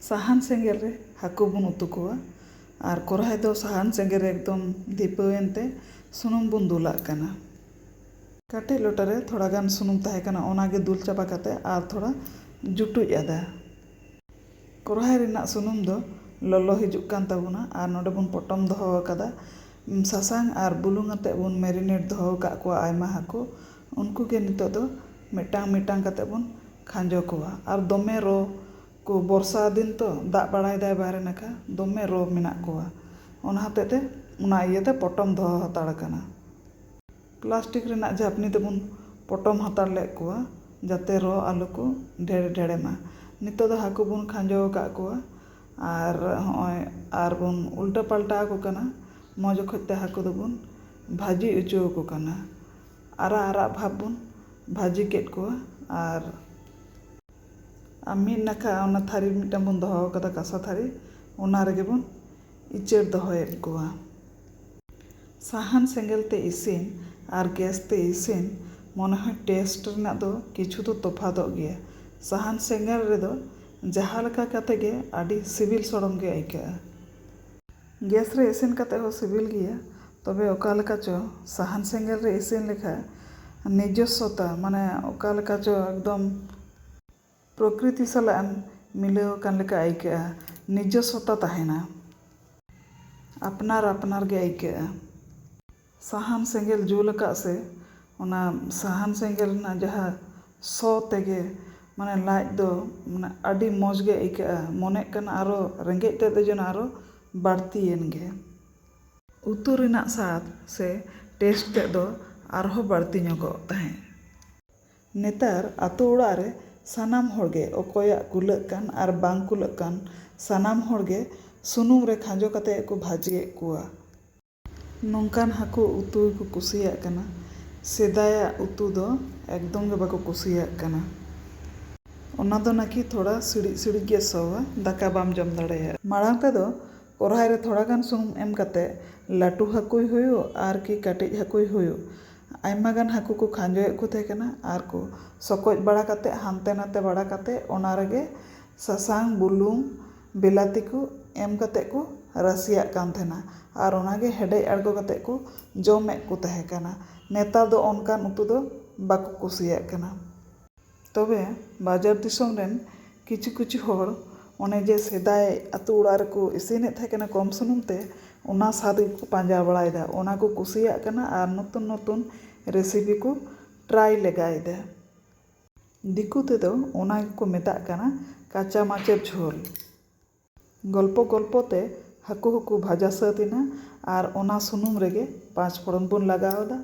ᱥᱟᱦᱟᱱ ᱥᱮᱸᱜᱮᱞ ᱨᱮ ᱦᱟᱹᱠᱩ ᱵᱚᱱ ᱩᱛᱩ ᱠᱚᱣᱟ ᱟᱨ ᱠᱚᱨᱦᱟᱭ ᱫᱚ ᱥᱟᱦᱟᱱ ᱥᱮᱸᱜᱮᱞ ᱨᱮ ᱮᱠᱫᱚᱢ ᱫᱷᱤᱯᱟᱹᱣ ᱮᱱ ᱛᱮ ᱥᱩᱱᱩᱢ ᱵᱚᱱ ᱫᱩᱞᱟᱜ ᱠᱟᱱᱟ᱾ ᱠᱟᱹᱴᱤᱡ ᱞᱚᱴᱟ ᱨᱮ ᱛᱷᱚᱲᱟ ᱜᱟᱱ ᱥᱩᱱᱩᱢ ᱛᱟᱦᱮᱸ ᱠᱟᱱᱟ ᱚᱱᱟ ᱜᱮ ᱫᱩᱞ ᱪᱟᱵᱟ ᱠᱟᱛᱮ ᱟᱨ ᱛᱷᱚᱲᱟ ᱡᱩᱴᱩᱡ ᱟᱫᱟ᱾ ᱠᱚᱨᱦᱟᱭ ᱨᱮᱱᱟᱜ ᱥᱩᱱᱩᱢ ᱫᱚ ᱞᱚᱞᱚ ᱦᱤᱡᱩᱜ ᱠᱟᱱ ᱛᱟᱵᱚᱱᱟ ᱟᱨ ᱱᱚᱰᱮ ᱵᱚᱱ ᱯᱚᱴᱚᱢ ᱫᱚᱦᱚ ᱟᱠᱟᱫᱟ᱾ ᱥᱟᱥᱟᱝ ᱟᱨ ᱵᱩᱞᱩᱝ ᱟᱛᱮ ᱵᱚᱱ ᱢᱮᱨᱤᱱᱮᱴ ᱫᱚᱦᱚ ᱟᱠᱟᱫ ᱠᱚᱣᱟ ᱟᱭᱢᱟ ᱦᱟᱹᱠᱩ᱾ ᱩᱱᱠᱩ ᱜᱮ ᱱᱤᱛᱚᱜ ᱫᱚ ᱢᱤᱫᱴᱟᱝ ᱢᱤᱫᱴᱟᱝ ᱠᱟᱛᱮᱫ ᱵᱚᱱ ᱠᱷᱟᱸᱡᱚ ᱠᱚᱣᱟ ᱟᱨ ᱫᱚᱢᱮ ᱨᱚ ᱠᱚ ᱵᱚᱨᱥᱟ ᱫᱤᱱ ᱛᱚ ᱫᱟᱜ ᱵᱟᱲᱟᱭᱮᱫᱟᱭ ᱵᱟᱦᱨᱮ ᱱᱟᱠᱷᱟ ᱫᱚᱢᱮ ᱨᱚ ᱢᱮᱱᱟᱜ ᱠᱚᱣᱟ ᱚᱱᱟ ᱦᱚᱛᱮᱫ ᱛᱮ ᱚᱱᱟ ᱤᱭᱟᱹᱛᱮ ᱯᱚᱴᱚᱢ ᱫᱚᱦᱚ ᱦᱟᱛᱟᱲ ᱠᱟᱱᱟ ᱯᱞᱟᱥᱴᱤᱠ ᱨᱮᱱᱟᱜ ᱡᱷᱟᱯᱱᱤ ᱛᱮᱵᱚᱱ ᱯᱚᱴᱚᱢ ᱦᱟᱛᱟᱲ ᱞᱮᱫ ᱠᱚᱣᱟ ᱡᱟᱛᱮ ᱨᱚ ᱟᱞᱚ ᱠᱚ ᱰᱷᱮᱲ ᱰᱷᱮᱲᱮ ᱢᱟ ᱱᱤᱛᱚᱜ ᱫᱚ ᱦᱟᱹᱠᱩ ᱵᱚᱱ ᱠᱷᱟᱸᱡᱚ ᱟᱠᱟᱫ ᱠᱚᱣᱟ ᱟᱨ ᱦᱚᱸᱜᱼᱚᱭ ᱟᱨ ᱵᱚᱱ ᱩᱞᱴᱟᱹ ᱯᱟᱞᱴᱟ ᱟᱠᱚ ᱠᱟᱱᱟ ᱢᱚᱡᱽ ᱚᱠᱚᱡ ᱛᱮ ᱦᱟᱹᱠᱩ ᱫᱚᱵᱚᱱ ᱵᱷᱟᱹᱡᱤ ᱦᱚᱪᱚ ᱟᱠᱚ ᱠᱟᱱᱟ ᱟᱨᱟᱜ ᱟᱨᱟᱜ ᱵᱷᱟᱵᱽ ᱵᱚᱱ ᱵᱷᱟᱹᱡᱤ ᱠᱮᱫ ᱠᱚᱣᱟ ᱟᱨ ᱢᱤᱫ ᱱᱟᱠᱷᱟ ᱚᱱᱟ ᱛᱷᱟᱹᱨᱤ ᱢᱤᱫᱴᱟᱝ ᱵᱚᱱ ᱫᱚᱦᱚ ᱠᱟᱫᱟ ᱠᱟᱸᱥᱟ ᱛᱷᱟᱹᱨᱤ ᱚᱱᱟ ᱨᱮᱜᱮ ᱵᱚᱱ ᱤᱪᱟᱹᱲ ᱫᱚᱦᱚᱭᱮᱫ ᱠᱚᱣᱟ᱾ ᱥᱟᱦᱟᱱ ᱥᱮᱸᱜᱮᱞ ᱛᱮ ᱤᱥᱤᱱ ᱟᱨ ᱜᱮᱥ ᱛᱮ ᱤᱥᱤᱱ ᱢᱚᱱᱮ ᱦᱚᱭ ᱴᱮᱥᱴ ᱨᱮᱱᱟᱜ ᱫᱚ ᱠᱤᱪᱷᱩ ᱫᱚ ᱛᱚᱯᱷᱟᱛᱚᱜ ᱜᱮᱭᱟ᱾ ᱥᱟᱦᱟᱱ ᱥᱮᱸᱜᱮᱞ ᱨᱮᱫᱚ ᱡᱟᱦᱟᱸ ᱞᱮᱠᱟ ᱠᱟᱛᱮ ᱜᱮ ᱟᱹᱰᱤ ᱥᱤᱵᱤᱞ ᱥᱚᱲᱚᱢ ᱜᱮ ᱟᱹᱭᱠᱟᱹᱜᱼᱟ᱾ ᱜᱮᱥ ᱨᱮ ᱤᱥᱤᱱ ᱠᱟᱛᱮ ᱦᱚᱸ ᱥᱤᱵᱤᱞ ᱜᱮᱭᱟ ᱛᱚᱵᱮ ᱚᱠᱟ ᱞᱮᱠᱟ ᱪᱚ ᱥᱟᱦᱟᱱ ᱥᱮᱸᱜᱮᱞ ᱨᱮ ᱤᱥᱤᱱ ᱞᱮᱠᱷᱟᱱ ᱱᱤᱡᱚᱥᱥᱚᱛᱟ ᱢᱟᱱᱮ ᱚᱠᱟ ᱞᱮᱠᱟ ᱪᱚ ᱮᱠᱫᱚᱢ ᱯᱨᱚᱠᱨᱤᱛᱤ ᱥᱟᱞᱟᱜ ᱮᱢ ᱢᱤᱞᱟᱹᱣ ᱟᱠᱟᱱ ᱞᱮᱠᱟ ᱟᱹᱭᱠᱟᱹᱜᱼᱟ ᱱᱤᱡᱚᱥᱥᱚᱛᱟ ᱛᱟᱦᱮᱱᱟ ᱟᱯᱱᱟᱨ ᱟᱯᱱᱟᱨ ᱜᱮ ᱟᱹᱭᱠᱟᱹᱜᱼᱟ᱾ ᱥᱟᱦᱟᱱ ᱥᱮᱸᱜᱮᱞ ᱡᱩᱞ ᱟᱠᱟᱫ ᱥᱮ ᱚᱱᱟ ᱥᱟᱦᱟᱱ ᱥᱮᱸᱜᱮᱞ ᱨᱮᱱᱟᱜ ᱡᱟᱦᱟᱸ ᱥᱚ ᱛᱮᱜᱮ ᱢᱟᱱᱮ ᱞᱟᱡ ᱫᱚ ᱢᱟᱱᱮ ᱟᱹᱰᱤ ᱢᱚᱡᱽ ᱜᱮ ᱟᱹᱭᱠᱟᱹᱜᱼᱟ ᱢᱚᱱᱮᱜ ᱠᱟᱱᱟ ᱟᱨᱚ ᱨᱮᱸᱜᱮᱡ ᱛᱮᱫ ᱫᱚ ᱡᱮᱱᱚ ᱟᱨᱚ ᱵᱟᱹᱲᱛᱤᱭᱮᱱ ᱜᱮ᱾ ᱩᱛᱩ ᱨᱮᱱᱟᱜ ᱥᱟᱫᱽ ᱥᱮ ᱴᱮᱥᱴ ᱛᱮᱫ ᱫᱚ ᱟᱨᱦᱚᱸ ᱵᱟᱹᱲᱛᱤ ᱧᱚᱜᱚᱜ ᱛᱟᱦᱮᱸᱫ᱾ ᱱᱮᱛᱟᱨ ᱟᱹᱛᱩ ᱚᱲᱟᱜ ᱨᱮ ᱥᱟᱱᱟᱢ ᱦᱚᱲ ᱜᱮ ᱚᱠᱚᱭᱟᱜ ᱠᱩᱞᱟᱹᱜ ᱠᱟᱱ ᱟᱨ ᱵᱟᱝ ᱠᱩᱞᱟᱹᱜ ᱠᱟᱱ ᱥᱟᱱᱟᱢ ᱦᱚᱲ ᱜᱮ ᱥᱩᱱᱩᱢ ᱨᱮ ᱠᱷᱟᱸᱡᱚ ᱠᱟᱛᱮ ᱜᱮᱠᱚ ᱵᱷᱟᱹᱡᱤᱭᱮᱫ ᱠᱚᱣᱟ᱾ ᱱᱚᱝᱠᱟᱱ ᱦᱟᱹᱠᱩ ᱩᱛᱩ ᱜᱮᱠᱚ ᱠᱩᱥᱤᱭᱟᱜ ᱠᱟᱱᱟ᱾ ᱥᱮᱫᱟᱭᱟᱜ ᱩᱛᱩ ᱫᱚ ᱮᱠᱫᱚᱢ ᱜᱮ ᱵᱟᱠᱚ ᱠᱩᱥᱤᱭᱟᱜ ᱠᱟᱱᱟ᱾ ᱚᱱᱟ ᱫᱚ ᱱᱟᱠᱤ ᱛᱷᱚᱲᱟ ᱥᱤᱲᱤᱡ ᱥᱤᱲᱤᱡ ᱜᱮ ᱥᱚᱣᱟ, ᱫᱟᱠᱟ ᱵᱟᱢ ᱡᱚᱢ ᱫᱟᱲᱮᱭᱟᱜᱼᱟ᱾ ᱢᱟᱲᱟᱝ ᱛᱮᱫᱚ ᱠᱚᱨᱦᱟᱭ ᱨᱮ ᱛᱷᱚᱲᱟ ᱜᱟᱱ ᱥᱩᱱᱩᱢ ᱮᱢ ᱠᱟᱛᱮ ᱞᱟᱹᱴᱩ ᱦᱟᱹᱠᱩᱭ ᱦᱩᱭᱩᱜ ᱟᱨ ᱠᱤ ᱠᱟᱹᱴᱤᱡ ᱦᱟᱹᱠᱩᱭ ᱦᱩᱭᱩᱜ ᱟᱭᱢᱟ ᱜᱟᱱ ᱦᱟᱹᱠᱩ ᱠᱚ ᱠᱷᱟᱸᱡᱚᱭᱮᱫ ᱠᱚ ᱛᱟᱦᱮᱸ ᱠᱟᱱᱟ ᱟᱨ ᱠᱚ ᱥᱚᱠᱚᱡ ᱵᱟᱲᱟ ᱠᱟᱛᱮ ᱦᱟᱱᱛᱮ ᱱᱟᱛᱮ ᱵᱟᱲᱟ ᱠᱟᱛᱮ ᱚᱱᱟ ᱨᱮᱜᱮ ᱥᱟᱥᱟᱝ, ᱵᱩᱞᱩᱝ ᱵᱤᱞᱟᱹᱛᱤ ᱠᱚ ᱮᱢ ᱠᱟᱛᱮ ᱠᱚ ᱨᱟᱥᱮᱭᱟᱜ ᱠᱟᱱ ᱛᱟᱦᱮᱱᱟ ᱟᱨ ᱚᱱᱟ ᱜᱮ ᱦᱮᱰᱮᱡ ᱟᱬᱜᱚ ᱠᱟᱛᱮ ᱠᱚ ᱡᱚᱢᱮᱫ ᱠᱚ ᱛᱟᱦᱮᱸ ᱠᱟᱱᱟ ᱱᱮᱛᱟᱨ ᱫᱚ ᱚᱱᱠᱟᱱ ᱩᱛᱩ ᱫᱚ ᱵᱟᱠᱚ ᱠᱩᱥᱤᱭᱟᱜ ᱠᱟᱱᱟ ᱛᱚᱵᱮ ᱵᱟᱡᱟᱨ ᱫᱤᱥᱚᱢ ᱨᱮᱱ ᱠᱤᱪᱷᱩ ᱠᱤᱪᱷᱩ ᱦᱚᱲ ᱚᱱᱮ ᱡᱮ ᱥᱮᱫᱟᱭ ᱟᱛᱳ ᱚᱲᱟᱜ ᱨᱮᱠᱚ ᱤᱥᱤᱱᱮᱫ ᱛᱟᱦᱮᱸ ᱠᱟᱱᱟ ᱠᱚᱢ ᱥᱩᱱᱩᱢ ᱛᱮ ᱚᱱᱟ ᱥᱟᱫ ᱜᱮᱠᱚ ᱯᱟᱸᱡᱟ ᱵᱟᱲᱟᱭᱮᱫᱟ ᱚᱱᱟ ᱠᱚ ᱠᱩᱥᱤᱭᱟᱜ ᱠᱟᱱᱟ ᱟᱨ ᱱᱚᱛᱩᱱ ᱱᱚᱛᱩᱱ ᱨᱮᱥᱤᱯᱤ ᱠᱚ ᱴᱨᱟᱭ ᱞᱮᱜᱟᱭᱮᱫᱟ ᱫᱤᱠᱩ ᱛᱮᱫᱚ ᱚᱱᱟ ᱜᱮᱠᱚ ᱢᱮᱛᱟᱜ ᱠᱟᱱᱟ ᱠᱟᱪᱟ ᱢᱟᱪᱮ ᱡᱷᱳᱞ᱾ ᱜᱚᱞᱯᱚ ᱜᱚᱞᱯᱚ ᱛᱮ ᱦᱟᱹᱠᱩ ᱦᱚᱸᱠᱚ ᱵᱷᱟᱡᱟ ᱥᱟᱹᱛ ᱮᱱᱟ ᱟᱨ ᱚᱱᱟ ᱥᱩᱱᱩᱢ ᱨᱮᱜᱮ ᱯᱟᱸᱪ ᱯᱷᱚᱲᱚᱱ ᱵᱚᱱ ᱞᱟᱜᱟᱣ ᱟᱫᱟ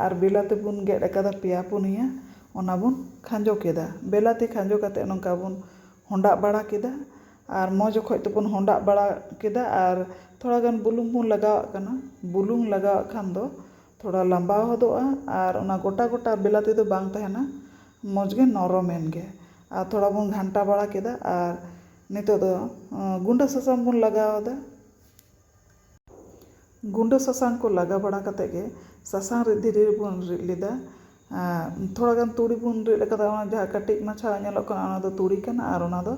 ᱟᱨ ᱵᱮᱞᱟᱛᱤ ᱵᱚᱱ ᱜᱮᱫ ᱟᱠᱟᱫᱟ ᱯᱮᱭᱟ ᱯᱩᱱᱭᱟᱹ ᱚᱱᱟ ᱵᱚᱱ ᱠᱷᱟᱸᱡᱚ ᱠᱮᱫᱟ᱾ ᱵᱮᱞᱟᱛᱤ ᱠᱷᱟᱸᱡᱚ ᱠᱟᱛᱮ ᱱᱚᱝᱠᱟ ᱵᱚᱱ ᱦᱚᱸᱰᱟᱜ ᱵᱟᱲᱟ ᱠᱮᱫᱟ ᱟᱨ ᱢᱚᱡᱽ ᱚᱠᱚᱡ ᱛᱮᱵᱚᱱ ᱦᱚᱸᱰᱟᱜ ᱵᱟᱲᱟ ᱠᱮᱫᱟ ᱟᱨ ᱛᱷᱚᱲᱟ ᱜᱟᱱ ᱵᱩᱞᱩᱝ ᱵᱚᱱ ᱞᱟᱜᱟᱣᱟᱜ ᱠᱟᱱᱟ᱾ ᱵᱩᱞᱩᱝ ᱞᱟᱜᱟᱣᱟᱜ ᱠᱷᱟᱱ ᱫᱚ ᱛᱷᱚᱲᱟ ᱞᱟᱢᱵᱟ ᱦᱚᱫᱚᱜᱼᱟ ᱟᱨ ᱚᱱᱟ ᱜᱚᱴᱟ ᱜᱚᱴᱟ ᱵᱤᱞᱟᱛᱤ ᱫᱚ ᱵᱟᱝ ᱛᱟᱦᱮᱱᱟ ᱢᱚᱡᱽ ᱜᱮ ᱱᱚᱨᱚᱢ ᱮᱱ ᱜᱮ ᱟᱨ ᱛᱷᱚᱲᱟ ᱵᱚᱱ ᱜᱷᱟᱱᱴᱟ ᱵᱟᱲᱟ ᱠᱮᱫᱟ ᱟᱨ ᱱᱤᱛᱚᱜ ᱫᱚ ᱜᱩᱸᱰᱟᱹ ᱥᱟᱥᱟᱝ ᱵᱚᱱ ᱞᱟᱜᱟᱣ ᱟᱫᱟ᱾ ᱜᱩᱸᱰᱟᱹ ᱥᱟᱥᱟᱝ ᱠᱚ ᱞᱟᱜᱟᱣ ᱵᱟᱲᱟ ᱠᱟᱛᱮ ᱜᱮ ᱥᱟᱥᱟᱝ ᱨᱤᱫ ᱫᱷᱤᱨᱤ ᱨᱮᱵᱚᱱ ᱨᱤᱫ ᱞᱮᱫᱟ᱾ ᱛᱷᱚᱲᱟ ᱜᱟᱱ ᱛᱩᱲᱤ ᱵᱚᱱ ᱨᱤᱫ ᱟᱠᱟᱫᱟ ᱚᱱᱟ ᱡᱟᱦᱟᱸ ᱠᱟᱹᱴᱤᱡ ᱢᱟᱪᱷᱟ ᱧᱮᱞᱚᱜ ᱠᱟᱱᱟ ᱚᱱᱟ ᱫᱚ ᱛᱩᱲᱤ ᱠᱟᱱᱟ ᱟᱨ ᱚᱱᱟ ᱫᱚ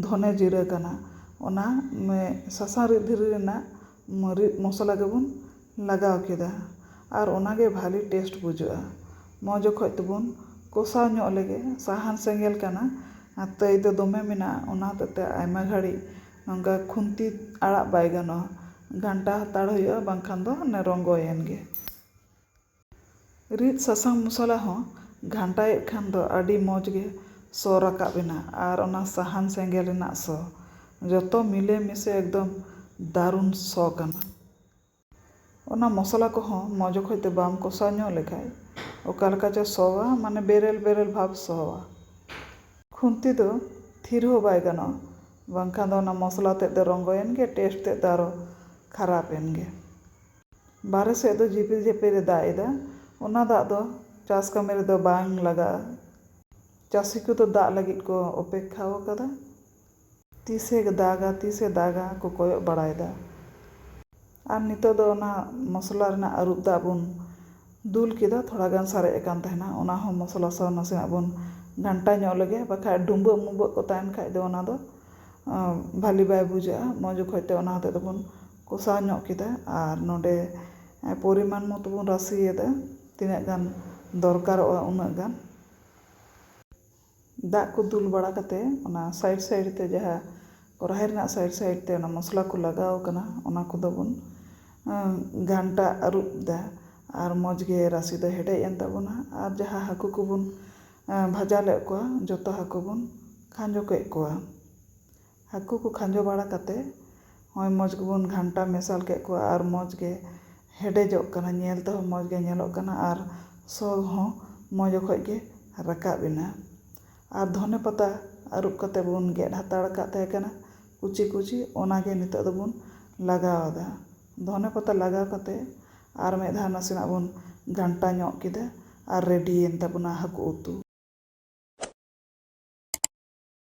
ᱫᱷᱚᱱᱮ ᱡᱤᱨᱟᱹ ᱠᱟᱱᱟ᱾ ᱚᱱᱟ ᱥᱟᱥᱟᱝ ᱨᱤᱫ ᱫᱷᱤᱨᱤ ᱨᱮᱱᱟᱜ ᱢᱟᱹᱨᱤᱪ ᱢᱚᱥᱞᱟ ᱜᱮᱵᱚᱱ ᱞᱟᱜᱟᱣ ᱠᱮᱫᱟ ᱟᱨ ᱚᱱᱟ ᱜᱮ ᱵᱷᱟᱹᱞᱤ ᱴᱮᱥᱴ ᱵᱩᱡᱷᱟᱹᱜᱼᱟ ᱢᱚᱡᱽ ᱚᱠᱚᱡ ᱛᱮᱵᱚᱱ ᱠᱚᱥᱟᱣ ᱧᱚᱜ ᱞᱮᱜᱮ ᱥᱟᱦᱟᱱ ᱥᱮᱸᱜᱮᱞ ᱠᱟᱱᱟ ᱟᱨ ᱛᱟᱹᱭ ᱫᱚ ᱫᱚᱢᱮ ᱢᱮᱱᱟᱜᱼᱟ ᱚᱱᱟ ᱦᱚᱛᱮᱫ ᱛᱮ ᱟᱭᱢᱟ ᱜᱷᱟᱹᱲᱤᱡ ᱱᱚᱝᱠᱟ ᱠᱷᱩᱱᱛᱤ ᱟᱲᱟᱜ ᱵᱟᱭ ᱜᱟᱱᱚᱜᱼᱟ ᱜᱷᱟᱱᱴᱟ ᱦᱟᱛᱟᱲ ᱦᱩᱭᱩᱜᱼᱟ ᱵᱟᱝᱠᱷᱟᱱ ᱫᱚ ᱚᱱᱮ ᱨᱚᱸᱜᱚᱭᱮᱱ ᱜᱮ ᱨᱤᱫ ᱥᱟᱥᱟᱝ ᱢᱚᱥᱞᱟ ᱦᱚᱸ ᱜᱷᱟᱱᱴᱟᱭᱮᱫ ᱠᱷᱟᱱ ᱫᱚ ᱟᱹᱰᱤ ᱢᱚᱡᱽ ᱜᱮ ᱥᱚ ᱨᱟᱠᱟᱵ ᱮᱱᱟ ᱟᱨ ᱚᱱᱟ ᱥᱟᱦᱟᱱ ᱥᱮᱸᱜᱮᱞ ᱨᱮᱱᱟᱜ ᱥᱚ ᱡᱚᱛᱚ ᱢᱤᱞᱮ ᱢᱤᱥᱮ ᱮᱠᱫᱚᱢ ᱫᱟᱨᱩᱱ ᱥᱚ ᱠᱟᱱᱟ᱾ ᱚᱱᱟ ᱢᱚᱥᱞᱟ ᱠᱚᱦᱚᱸ ᱢᱚᱡᱽ ᱚᱠᱚᱡ ᱛᱮ ᱵᱟᱢ ᱠᱚᱥᱟᱣ ᱧᱚᱜ ᱞᱮᱠᱷᱟᱡ ᱚᱠᱟ ᱞᱮᱠᱟ ᱪᱚ ᱥᱚᱣᱟ ᱢᱟᱱᱮ ᱵᱮᱨᱮᱞ ᱵᱮᱨᱮᱞ ᱵᱷᱟᱵᱽ ᱥᱚᱣᱟ᱾ ᱠᱷᱩᱱᱛᱤ ᱫᱚ ᱛᱷᱤᱨ ᱦᱚᱸ ᱵᱟᱭ ᱜᱟᱱᱚᱜᱼᱟ ᱵᱟᱝᱠᱷᱟᱱ ᱫᱚ ᱚᱱᱟ ᱢᱚᱥᱞᱟ ᱛᱮᱫ ᱫᱚ ᱨᱚᱸᱜᱚᱭᱮᱱ ᱜᱮ ᱴᱮᱥᱴ ᱛᱮᱫ ᱫᱚ ᱟᱨᱚ ᱠᱷᱟᱨᱟᱯ ᱮᱱ ᱜᱮ᱾ ᱵᱟᱦᱨᱮ ᱥᱮᱫ ᱫᱚ ᱡᱷᱤᱯᱤᱨ ᱡᱷᱤᱯᱤᱨ ᱮ ᱫᱟᱜ ᱮᱫᱟ᱾ ᱚᱱᱟ ᱫᱟᱜ ᱫᱚ ᱪᱟᱥ ᱠᱟᱹᱢᱤ ᱨᱮᱫᱚ ᱵᱟᱝ ᱞᱟᱜᱟᱜᱼᱟ᱾ ᱪᱟᱹᱥᱤ ᱠᱚᱫᱚ ᱫᱟᱜ ᱞᱟᱹᱜᱤᱫ ᱠᱚ ᱚᱯᱮᱠᱠᱷᱟ ᱟᱠᱟᱫᱟ᱾ ᱛᱤᱥ ᱮ ᱫᱟᱜᱟ ᱛᱤᱥ ᱮ ᱫᱟᱜᱟ ᱠᱚ ᱠᱚᱭᱚᱜ ᱵᱟᱲᱟᱭᱮᱫᱟ᱾ ᱟᱨ ᱱᱤᱛᱚᱜ ᱫᱚ ᱚᱱᱟ ᱢᱚᱥᱞᱟ ᱨᱮᱱᱟᱜ ᱟᱹᱨᱩᱵ ᱫᱟᱜ ᱵᱚᱱ ᱫᱩᱞ ᱠᱮᱫᱟ᱾ ᱛᱷᱚᱲᱟ ᱜᱟᱱ ᱥᱟᱨᱮᱡ ᱟᱠᱟᱱ ᱛᱟᱦᱮᱱᱟ᱾ ᱚᱱᱟ ᱦᱚᱸ ᱢᱚᱥᱞᱟ ᱥᱟᱶ ᱱᱟᱥᱮᱱᱟᱜ ᱵᱚᱱ ᱜᱷᱟᱱᱴᱟ ᱧᱚᱜ ᱞᱮᱜᱮ᱾ ᱵᱟᱠᱷᱟᱡ ᱰᱩᱸᱵᱟᱹᱜ ᱢᱩᱸᱵᱟᱹᱜ ᱠᱚ ᱛᱟᱦᱮᱱ ᱠᱷᱟᱡ ᱫᱚ ᱚᱱᱟ ᱫᱚ ᱵᱷᱟᱹᱞᱤ ᱵᱟᱭ ᱵᱩᱡᱷᱟᱹᱜᱼᱟ᱾ ᱢᱚᱡᱽ ᱚᱠᱚᱡ ᱛᱮ ᱚᱱᱟ ᱦᱚᱛᱮᱡ ᱛᱮᱵᱚᱱ᱾ ᱠᱚᱥᱟᱣ ᱧᱚᱜ ᱠᱮᱫᱟ ᱟᱨ ᱱᱚᱰᱮ ᱯᱚᱨᱤᱢᱟᱱ ᱢᱚᱛᱚ ᱵᱚᱱ ᱨᱟᱥᱮᱭᱟᱫᱟ ᱛᱤᱱᱟᱹᱜ ᱜᱟᱱ ᱫᱚᱨᱠᱟᱨᱚᱜᱼᱟ ᱩᱱᱟᱹᱜ ᱜᱟᱱ ᱫᱟᱜ ᱠᱚ ᱫᱩᱞ ᱵᱟᱲᱟ ᱠᱟᱛᱮ ᱚᱱᱟ ᱥᱟᱭᱤᱰ ᱥᱟᱭᱤᱰ ᱛᱮ ᱡᱟᱦᱟᱸ ᱠᱚᱨᱟᱦᱤ ᱨᱮᱱᱟᱜ ᱥᱟᱭᱤᱰ ᱥᱟᱭᱤᱰ ᱛᱮ ᱚᱱᱟ ᱢᱚᱥᱞᱟ ᱠᱚ ᱞᱟᱜᱟᱣ ᱠᱟᱱᱟ ᱚᱱᱟ ᱠᱚᱫᱚ ᱵᱚᱱ ᱜᱷᱟᱱᱴᱟ ᱟᱹᱨᱩᱵ ᱫᱟ ᱟᱨ ᱢᱚᱡᱽ ᱜᱮ ᱨᱟᱥᱮ ᱫᱚ ᱦᱮᱰᱮᱡ ᱮᱱ ᱛᱟᱵᱚᱱᱟ ᱟᱨ ᱡᱟᱦᱟᱸ ᱦᱟᱹᱠᱩ ᱠᱚᱵᱚᱱ ᱵᱷᱟᱡᱟ ᱞᱮᱫ ᱠᱚᱣᱟ ᱡᱚᱛᱚ ᱦᱟᱹᱠᱩ ᱵᱚᱱ ᱠᱷᱟᱸᱡᱚ ᱠᱮᱫ ᱠᱚᱣᱟ ᱦᱟᱹᱠᱩ ᱠᱚ ᱠᱷᱟᱸᱡᱚ ᱵᱟᱲᱟ ᱠᱟᱛᱮ ᱦᱚᱸᱜᱼᱚᱭ ᱢᱚᱡᱽ ᱜᱮᱵᱚᱱ ᱜᱷᱟᱱᱴᱟ ᱢᱮᱥᱟᱞ ᱠᱮᱫ ᱠᱚᱣᱟ ᱟᱨ ᱢᱚᱡᱽ ᱜᱮ ᱦᱮᱰᱮᱡᱚᱜ ᱠᱟᱱᱟ ᱧᱮᱞ ᱛᱮᱦᱚᱸ ᱢᱚᱡᱽ ᱜᱮ ᱧᱮᱞᱚᱜ ᱠᱟᱱᱟ ᱟᱨ ᱥᱚ ᱦᱚᱸ ᱢᱚᱡᱽ ᱚᱠᱚᱡ ᱜᱮ ᱨᱟᱠᱟᱵ ᱮᱱᱟ ᱟᱨ ᱫᱷᱚᱱᱮ ᱯᱟᱛᱟ ᱟᱹᱨᱩᱵ ᱠᱟᱛᱮ ᱵᱚᱱ ᱜᱮᱫ ᱦᱟᱛᱟᱲ ᱠᱟᱜ ᱛᱟᱦᱮᱸ ᱠᱟᱱᱟ ᱠᱩᱪᱤ ᱠᱩᱪᱤ ᱚᱱᱟ ᱜᱮ ᱱᱤᱛᱚᱜ ᱫᱚᱵᱚᱱ ᱞᱟᱜᱟᱣ ᱟᱫᱟ ᱫᱷᱚᱱᱮ ᱯᱟᱛᱟ ᱞᱟᱜᱟᱣ ᱠᱟᱛᱮ ᱟᱨ ᱢᱤᱫ ᱫᱷᱟᱣ ᱱᱟᱥᱮᱱᱟᱜ ᱵᱚᱱ ᱜᱷᱟᱱᱴᱟ ᱧᱚᱜ ᱠᱮᱫᱟ ᱟᱨ ᱨᱮᱰᱤᱭᱮᱱ ᱛᱟᱵᱚᱱᱟ ᱦᱟᱹᱠᱩ ᱩᱛᱩ᱾